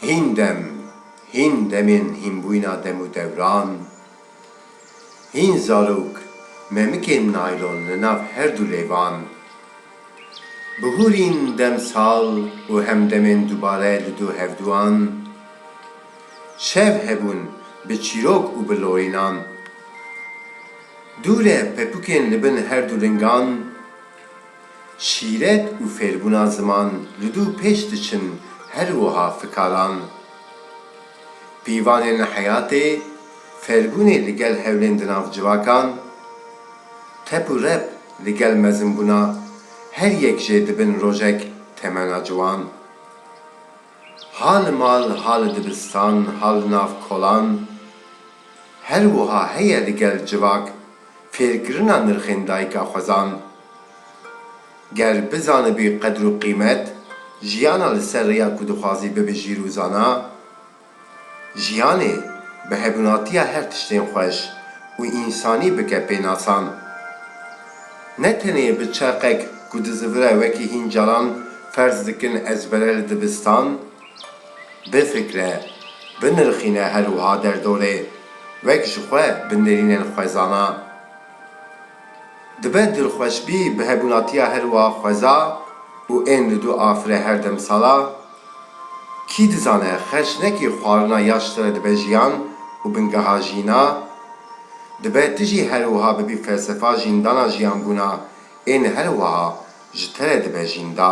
Hîn dem, hîn demên hînbûyîna dem û dewran, hîn zarok memikên naylon li nav her du lêvan, bihûrîn demsal û hemdemên dubare li du hevduan, şev hebûn bi çîrok û bi lorînan. Dûre pepûkên li bin her du lingan, şîret û fêrbûna ziman li dû pêş diçin her wiha fikaran. Pîvanên li heyatê, fêrbûnê li gel hewlên di nav civakan, tep û rep li gel mezimbûna her yek jê dibin rojek temena ciwan. Ha li mal, ha li dibistan, ha li nav kolan. Her wiha heye ligel civak fêrkirina nirxên dayika xwezan. Ger bizanibî qedr û qîmet jiyana li ser rêya ku dixwazî bibijîr û zana, Jiyanê bi hevnatiya her tiştên xweş û însanî bike pênasan. Ne tenê bi çerqek ku dizivire wekî hîn caran ferz dikin ezbere li dibistan, bifikre, binirxîne her wiha derdorê wek ji xwe bi nêrînên xwezana. Dibe dilxweş bî bi hebûnatiya her wa xweza û ên li du afire her dem sala. Kî dizane xerç ne kî xwarina ya ji te re dibe jiyan û bingeha jîna. Dibe tu jî her wiha bibî felsefa jîndana jiyanbûna ên her wiha ji te re dibe jînda.